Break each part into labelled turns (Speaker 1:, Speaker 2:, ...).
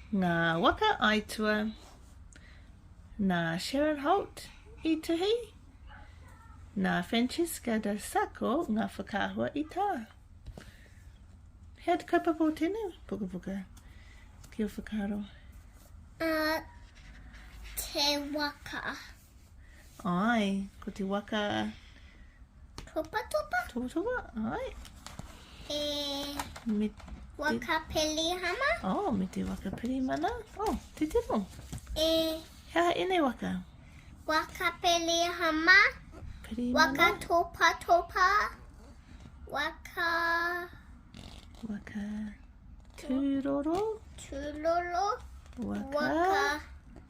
Speaker 1: Ngā waka aitua nā Sharon Holt i tuhi, nā Francesca da Sacco ngā whakaahua i tā. He atu kaupapa o tēnei pukapuka ki o whakaaro? Uh,
Speaker 2: te waka.
Speaker 1: Ai, ko te waka... Topa topa.
Speaker 2: Topa topa, ai. E... Me... Waka Pelihama. Oh, me te waka
Speaker 1: Pelimana. Oh, te tino. E... Hea e nei waka? Waka
Speaker 2: Pelihama. Pelimana. Waka
Speaker 1: Topa
Speaker 2: Topa. Waka... Waka...
Speaker 1: Tūroro. Tūroro. Waka...
Speaker 2: Waka...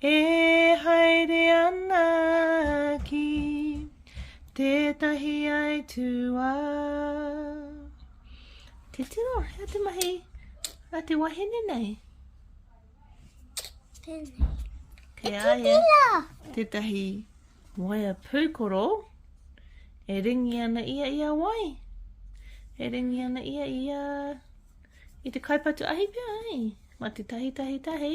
Speaker 1: E haere ana ki tētahi aituā. Te tino, hea te mahi a te wahine nei?
Speaker 2: Tēnei. Kei
Speaker 1: a ia. Tētahi waea pūkoro e ringi ana ia i a wai? E ringi ana ia i a... i te kaipatu ahi pia, hei? Ma te tahi tahi tahi.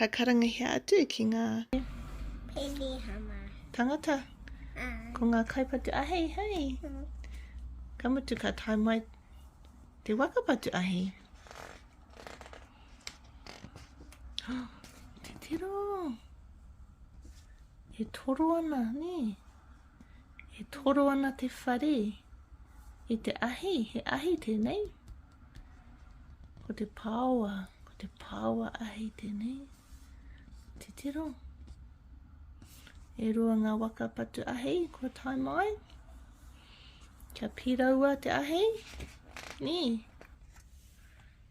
Speaker 1: Ka karangahia atu ki ngā. Penihana.
Speaker 2: Tangata. Ā.
Speaker 1: Ko ngā kaipatu ahei, hei. Ā. Ka mutu ka tae mai te waka patu ahi. Ā. Te tiro. E toro ana, nē. E toro ana te whare i te ahi, he ahi tēnei. Ko te pāoa, ko te pāoa ahi tēnei. Te tiro. E rua ngā waka patu ahi, kua tae mai. Kia pīraua te ahi. Nī.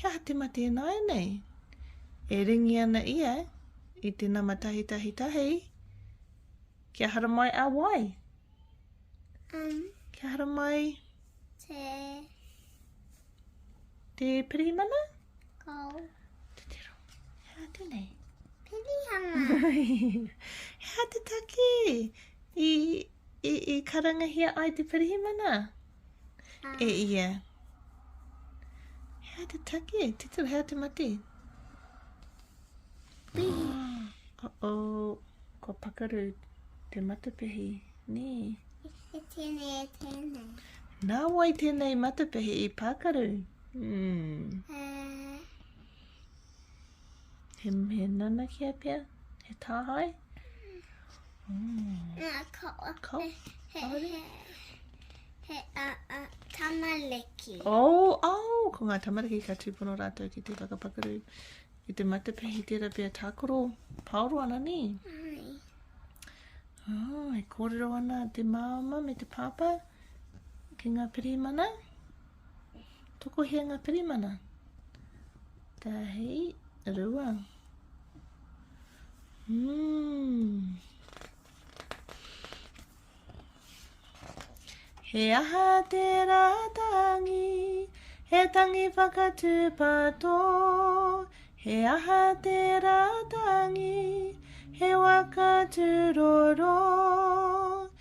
Speaker 1: He aha te mate ināianei? E ringi ana ia i te nama tahitahitahi. Kia haramai a wai? Um, Kia haramai? Te... Te pirimana? Kau.
Speaker 2: Te tero.
Speaker 1: He aha tēnei? Pirihana. He aha te taki i, i, i karangahia ai te pirihimana? e ia. Hea te take, te tu, hea te mate. Oh, oh, ko pakaru te matapehi, nē. E tēnei,
Speaker 2: e tēnei.
Speaker 1: Nā wai tēnei matapehi i pakaru? Hmm. Uh. He, he nanakia pea? He tāhae? Mm. Nā, ko, ko? He, he, he,
Speaker 2: he a, a, tamariki. O, oh, o,
Speaker 1: oh, ko ngā tamariki ka tūpono rātou ki te whakapakuru. Ki te matapehi tērā pia tākoro, paoro ana ni? Ai. Oh, e kōrero ana te māma me te pāpā ki ngā pirimana. Tokohia ngā pirimana. Tahi, rua. Mmm. He aha te rātangi, he tangi whakatūpato. He aha te rātangi, he waka tūroro. He aha te rātangi, he waka tūroro.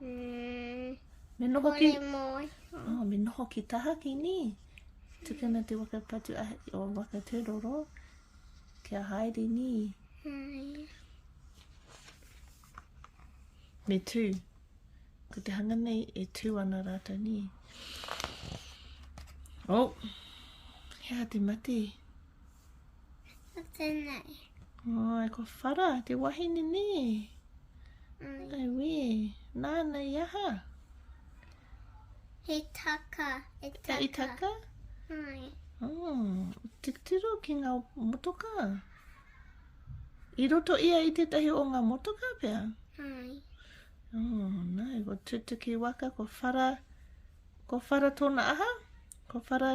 Speaker 1: Mm, me noho ki... Moi. Oh, me noho ki tahaki, ni? Tukuna te waka patu a, o waka tēroro. Kia haere, ni? Hai. Me tū. Ko te hanga nei e tū ana rātou, ni? Oh, hea te mate. Hea te mate.
Speaker 2: Ko tēnei. Ai, ko
Speaker 1: Whara, te wahine nē. Mm. Ai wē, nāna i aha? I
Speaker 2: taka, i taka. E, i taka? Ai. Oh,
Speaker 1: titiro ki ngā motoka. I roto ia i tētahi o ngā motoka pia?
Speaker 2: Ai. Oh,
Speaker 1: nā, ko tutuki waka, ko whara, ko whara tōna aha? Ko whara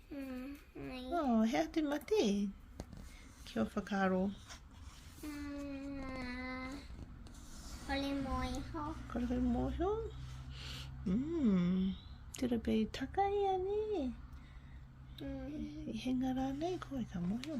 Speaker 2: Mai. Oh, hea te
Speaker 1: mate? Kia whakaro. Mm,
Speaker 2: kore mo iho. Kore mo iho?
Speaker 1: Mm, tira pe i taka i ani. Mm. I henga rānei koe ka mo iho.